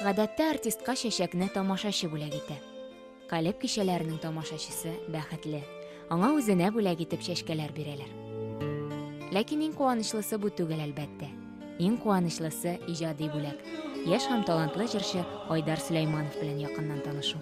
Гадәттә артистка чәчәкне тамашачы бүләк итә. Калеб кичәләренең тамашачысы бәхетле. Аңа үзенә бүләк итеп чәчкәләр бирәләр. Ләкин иң куанычлысы бу түгел, әлбәттә. Иң куанычлысы иҗади бүләк. Яшь һәм талантлы җырчы Айдар Сөләйманов белән якыннан танышу.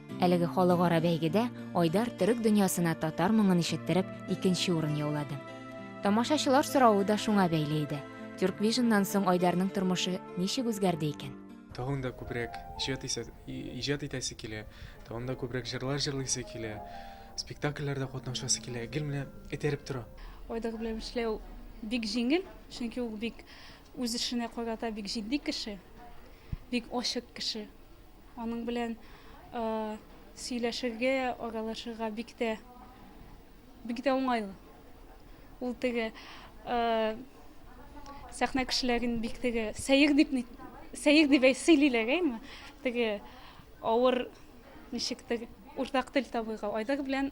Әлеге халыкара бәйгедә Айдар төрек дөньясына татар моңын ишеттереп, икенче урын яулады. Тамашачылар соравы да шуңа бәйле иде. Тюрквижннан соң Айдарның тормышы ничек үзгәрде икән? Тагын да күбрәк иҗат исә, иҗат итәсе килә, тагын да күбрәк җырлар җырлыйсы килә, спектакльләрдә катнашасы килә. Гел менә этәреп тора. Айдар белән эшләү бик җиңел, чөнки ул бик үз эшенә карата бик җитди кеше, бик ачык кеше. Аның белән сөйләшергә, аралашырга бик тә бик тә уңайлы. Ул теге сәхнә кешеләрен бик теге сәер дип сәер дип сөйлиләр әйме? Теге авыр ничектер уртак тел табырга Айдар белән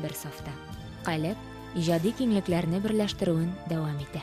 бер сафта. Калеб иҗади киңлекләрне берләштерүен дәвам итә.